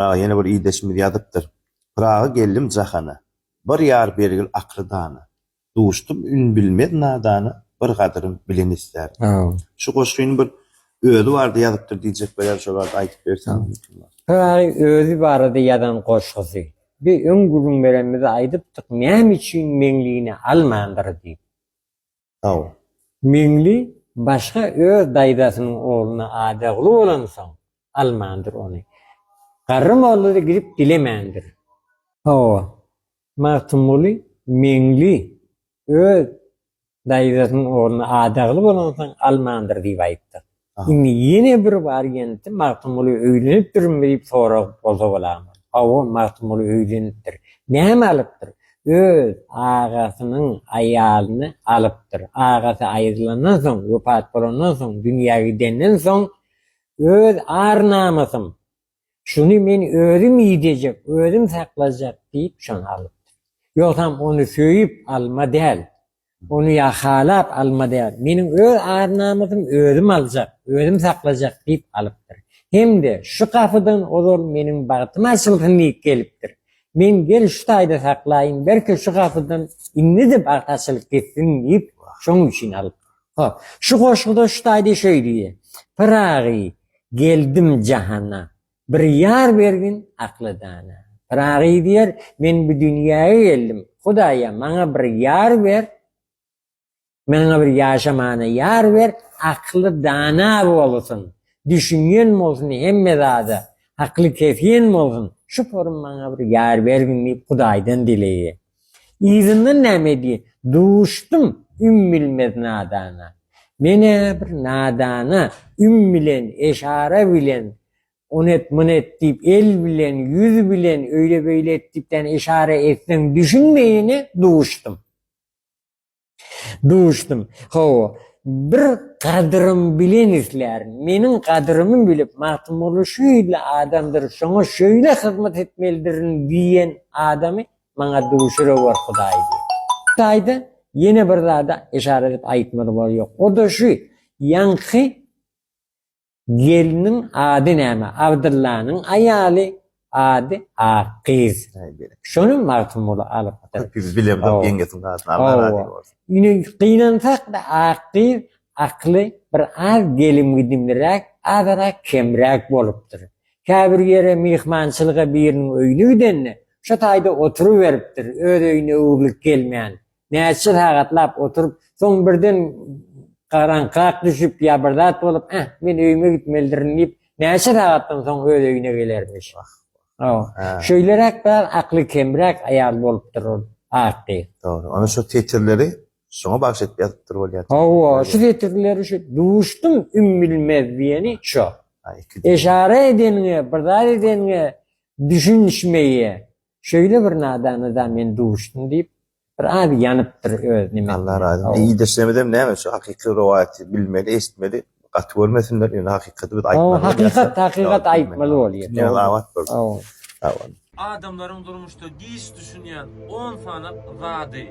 Pyraga ýene bir ildeşimiz ýazypdyr. Pyraga geldim jahana, Bir ýar bergil akyly dana, Duşdum ün bilmez nadana, Bir gadyrym bilen islär. Şu goşgyny bir özi barada ýazypdyr diýjek bolýan şo barada aýdyp berseň. Pyragy özi barada ýazan goşgusy. Bi öň gürrüň berenimizde aýdypdyk näme üçin Meňlini almandyr diýip. Sag. Meňli başga öz daýzasynyň ogluna adagly bolansoň almandyr ony. Garry mollada gidip dilemändir. Hawa. Magtymguly Meňli öz daýzasynyň ogluna adagly bolansoň almandyr diýip aýtdyk. Indi ýene bir bar ýenti Magtymguly öýlenipdirmi diýip sorag bolsa bolarmy? Hawa, Magtymguly öýlenipdir. Näme alypdyr? Öz agasynyň aýalyny alypdyr. Agasy aýrylandan soň, wepat bolandan soň, dünýä gidenden soň, Öz ar-namysym, Şuny men özüm iýdejek, özüm saklajak diýip, şony alypdyr. Ýogsam ony söýüp alma däl, ony ýa halap alma däl, meniň öz ar-namysym özüm aljak, özüm saklajak diýip alypdyr. Hem-de şu gapydan ozal meniň bagtym açylsyn diýip gelipdir. Men gel şu taýda saklaýyn, belki şu gapydan indi-de bagt açylyp gitsin diýip, şonuň üçin alypdyr. Hop, şu goşguda şu taýda şeý diýýär, Pyragy, Geldim jahana, bir ýar bergin akly-dana. Pyragy diýer, Men bu dünýäge geldim, Hudaýa, maňa bir ýar ber, Maňa bir ýaşamana ýar ber, Akly dana bolsun, düşünýän bolsun hemme zada, Akly kesýän bolsun, şu porym maňa bir ýar bergin diýip Hudaýdan dileýär. Yzyndan näme diýen, Duşdum üm bilmez nadana. Men-ä bir nadana üm bilen, eşara bilen, on et, mun et diýip, el bilen, ýüz bilen, öýle-beýle et diýip, ýagny eşara etseň düşünmeýine duşdum. Duşdum. Hawa, bir gadyrym bilen islärin. Meniň gadyrymy bilip, Magtymguly şeýle adamdyr, şoňa şeýle hyzmat etmelidirin diýen adamy maňa duşurewor Hudaý diýip. Hudaýda ýene bir zada yşara edip aýtmaly bor ýok. O-da şu, ýaňky Gelniň ady näme? Abdyllanyň aýaly ady Akgyz. Şony Magtymguly alyp. Köp ýüz bilemzok ýeňňesiň adyny. Allah razy bolsun. Ine gynansak-da Akgyz akly bir az gelim-gidimliräk, azyrak kemräk bolupdyr. Käbir ýere myhmançylyga biriniň öýüne gidende, şo taýda oturyberipdir, öz öýüne öwrülip gelmän. Näçe sagatlap oturyp, soň birden garaňkrak düşüp ýa bir zat bolup, Äh, men öýüme gitmelidirin diýip, näçe sagatdan soň öz öýüne gelermiş. Hawa. Şeýleräk biraz akly kemräk aýal bolupdyr ol ak gyz. Dogry. Onuň şu setirleri şoňa bagyş edip ýazypdyr bolýar. Hawa, şu setirleri şu Duşdum ümbilmez diýeni şo. Eşara edeniňe, bir zat edeniňe düşünişmeýe. Şeýle bir nadana da men duşdum diýip, bir az ýanypdyr öz nimesine. Allah razy bolsun. Ildeşlerimizem näme şu hakyky rowaýaty bilmeli, eşitmeli, gaty görmesinler, ýöne hakykaty biz aýtmaly. Hawa, hakykat, hakykat aýtmaly bolýar. Dünýäňiz abat bolsun. Sag boluň. Sag boluň. Adamlaryň durmuşda giç düşünýän on sany zady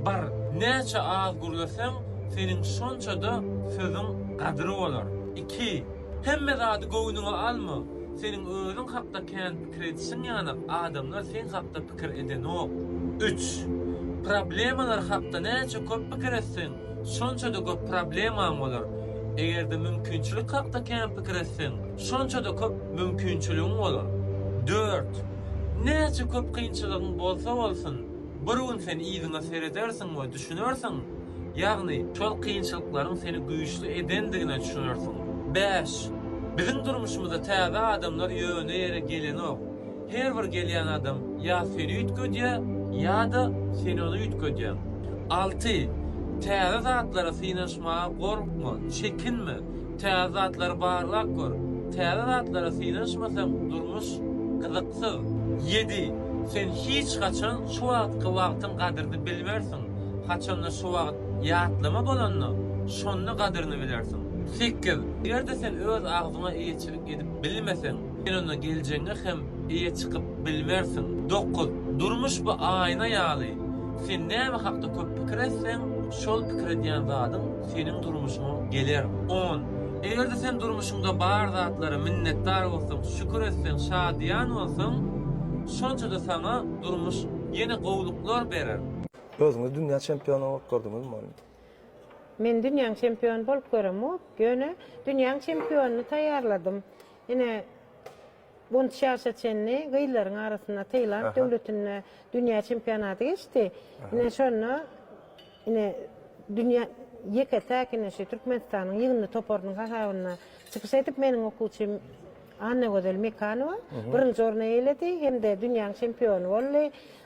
bar. Näçe az gürleseň, seniň şonça-da sözüň gadyry bolar. Iki. Hemme zady göwnüňe alma. Seniň özüň hakda kän. Kreditiň ýanyp, adamlar seň hakda pikir edenok. Üç. Problemalar hakda näçe köp pikir etseň, şonça-da köp problemaň bolar. Eger-de mümkinçilik hakda kän pikir etseň, şonça-da köp mümkinçiligiň bolar. Dört. Näçe köp kynçylygyň bolsa bolsun, Bir gün sen yzyňa seredersiň we düşünersiň, ýagny şol kynçylyklaryň seni güýçli edendigine düşünersiň. Bäş. Biziň durmuşymyza täze adamlar ýöne ýere gelenok. Her bir gelýän adam ýa seni üýtgedýär, ýa-da sen ony üýtgedýäň. Alty. Täze zatlara synanyşmaga gorkma, çekinme. Täze zatlary barlap gör. Täze zatlara synanyşmasaň durmuş gyzyksyz. Ýedi, sen hiç haçan şu wagtky wagtyň gadryny bilmersiň. Haçanda şu wagt ýatlama bolanda, şonda gadryny bilersiň. Sekiz, eger-de sen öz agzyňa eýeçilik edip bilmeseň, sen onda geljegiňe hem eýe çykyp bilmersiň. Dokuz, durmuş bu aýna ýaly. Sen näme hakda köp pikir etseň, şol pikir edýän zadyň seniň durmuşyňa geler. On. Eger-de sen durmuşyňda bar zatlara minnetdar bolsaň, şükür etseň, şadyýan bolsaň, şonça-da saňa durmuş ýene gowluklar berer. Özüňiz dünýä çempiony bolup gördüňizmi ony? Men dünýäň çempiony bolup göremok, ýöne dünýäň çempionyny taýýarladym. Ine, Gunç ýaşa çenli gyzlaryň arasynda Taýland döwletinde dünýä çempionaty geçdi. Ine, şonda ine dünýä ýeke-täk ine şu Türkmenistanyň ýygyndy toparynyň hasabynda çykyş edip, meniň okuwçym Annagözel Mekanowa birinji orny eýeledi hem-de dünýäň çempiony boldy.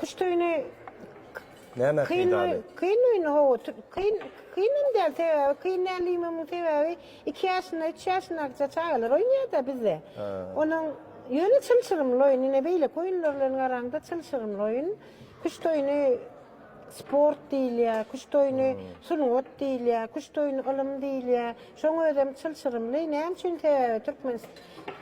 Kuş tüýüni Näme kyn peýdaly? kyn öýüni hawa tü- kyn kyn hem däl sebäbi kyn däl diýmemiň sebäbi iki ýaşynda üç ýaşyndakça çagalar oýnaýarda bizde. Ha. Onuň ýöne çylşyrymly oýun ine beýleki oýunlar bilen garaňda çylşyrymly oýun. Kuş toýuny Sport diýilýär, küşt oýny, sungat diýilýär, küşt oýny, ylym diýilýär. Şoň özem çylşyrymly. Näme üçin? Sebäbi türkmen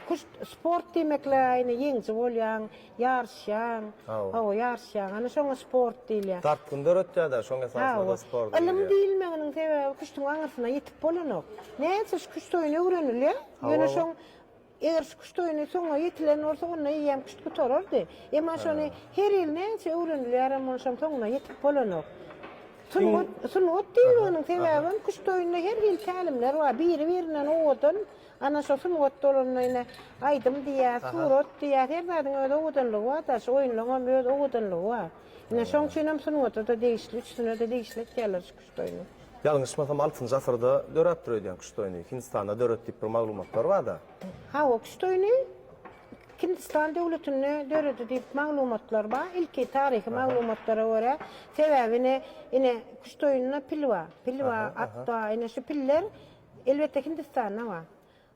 küşt sport diýmekle aýna ýeňiji bolýaň, ýaryşýaň. Hawa, ýaryşýaň. Ana şoňa sport diýilýär. Dartgyn döretýär-de, şoň esasynda-da sport diýilýär. Ylym diýilmeginiň sebäbi küştüň aňyrsyna ýetip bolanok. Näçe şu küşt oýny öwrenilýär, ýöne şoň Eger şu küşt oýny soňa ýetilen bolsa, onda eýýäm küşt gutarardy. Emma şony her ýyl näçe öwrenilýärem, onşam soňuna ýetip bolanok. Sungat, sungat diýilginiň sebäbem küşt oýnunda her hili tälimler bar. Biri-birinden owadan, ana şo sungat bolanda ine aýdym diýýäs, surat diýýäs, her zadyň öz owadanlygy bar-da, şu oýunlaryňam öz owadanlygy bar. Ine şoň üçinem sungata-da degişli, üçüsine-de degişli etýärler şu Doýny. Ýalňyşmasam altynjy asyrda döräpdir öýdýän küşt oýny. Hindistanda döret diýip bir maglumatlar barda. Hawa küşt oýny Hindistan döwletinde döredi diýip maglumatlar bar. Ilki taryhy maglumatlara görä. Sebäbi ine ine küşt oýnunda pil bar. Pil bar, at bar. Ine şu piller elbetde Hindistanda bar.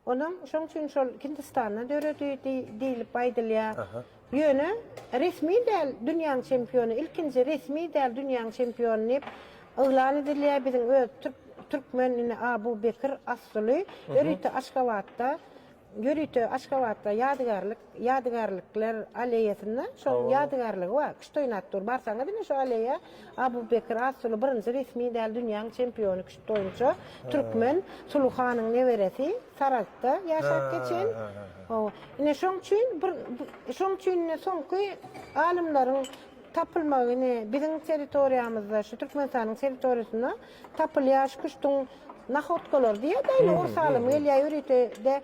Olam şoň üçin şol Hindistanda döredi diýlip aýdylýar. Ýöne resmi däl dünýäň çempiony, ilkinji resmi däl dünýäň çempiony diýip yglan edilýär. Biziň öz türk türkmen indi Abu Bekir Assuly ýörite Aşgabatda ýörite Aşgabatda ýadygärlik Ýadygärlikler alleýasynda şonuň ýadygärligi bar. Küştoýnat dur. Barsaňyz ine şu alleýa Abubekir Assuly birinji resmi däl dünýäň çempiony küşt boýunça türkmen Suly hanyň neberesi Saragtda ýaşap geçen. Hawa. Ine şoň üçin bir şoň üçin ine soňky alymlaryň tapylmagy ine biziň territoriýamyzda şu Türkmenistanyň territoriýasynda tapylýar şu küştüň nahodkalary diýýär-dä ine orus alymy gelýär ýörite-de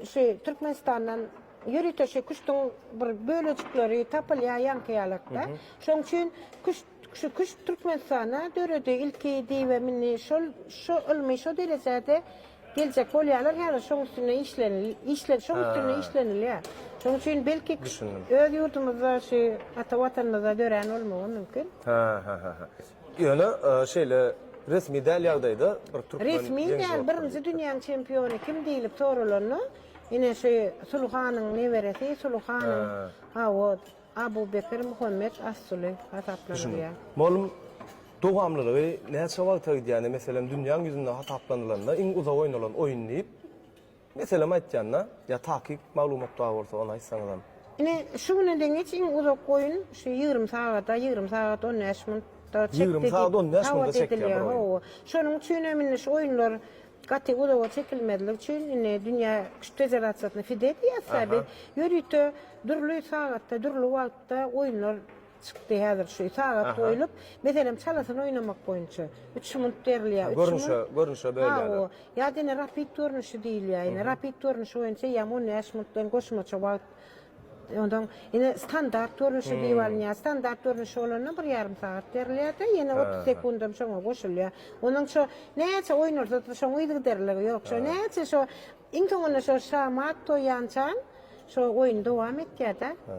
Şu Türkmenistandan ýörite şu küştüň bir bölejikleri tapylýar ýaňky ýalakda. Şoň üçin küşt, şu küşt Türkmenistana döredi ilki diýibem indi şol şu ylmy şo derejede geljek bolýarlar häzir şoň üstünde işlenil işle şoň üstünde işlenilýär. Şoň üçin belki küşt öz ýurdumyzda şu ata Watanymyzda dörän bolmagy mümkin. Hä-hä-hä-hä. Ýöne şeýle resmi däl ýagdaýda bir türkmen ýeňiji bolupdyr diýipdir. Resmi däl, birinji dünýäň çempiony kim diýlip soralanda, ine şu Suly hanyň neberesi, Suly hanyň hawa, Abu Bekir Muhammet As-Suly hasaplanylýar. Molum, dowamlylygy näçe wagta gidýär? Ine meselem dünýäň ýüzünde hasaplanylanda iň uzak oýnalan oýun diýip. Meselem aýtýanda, ýa takyk maglumat bar bolsa ony aýtsaňyzam. Ine, şu güne deň hiç iň uzak oýun şu ýigrimi sagada, ýigrimi sagat on bäş minutda çekdi diýip. Ýigrimi sagat on bäş minutda çekýär bir oýun. Hawa. Şonuň üçin hem indi şu oýunlar gaty uzaga çekilmezlik üçin indi dünýä küşt federasiýasyna FIDE diýýäs-ä biz, ýörite dürli sagatda, dürli wagtda oýunlar Çykdy häzir şu sagat Aha. goýlup, meselem çalasyny oýnamak boýunça üç munt berilýär. Üç Görnüşe, munt. görnüşe Ha, o. bölýärler. Ýa-da ine rapid görnüşi diýilýär. Ine rapid görnüşi boýunça ýa on bäş muntdan goşmaça wagt. Ondan ine standart görnüşi diýip alynýar. Standart görnüşi bolanda bir ýarym sagat berilýär-de, ýene otuz Aha. sekundam şoňa goşulýar. Onuň şo näçe oýnalsa-da şoň yzygiderligi ýok. Şo näçe şo iň soňunda şo şamat toýýançan şo oýun dowam etýär-de. Ha.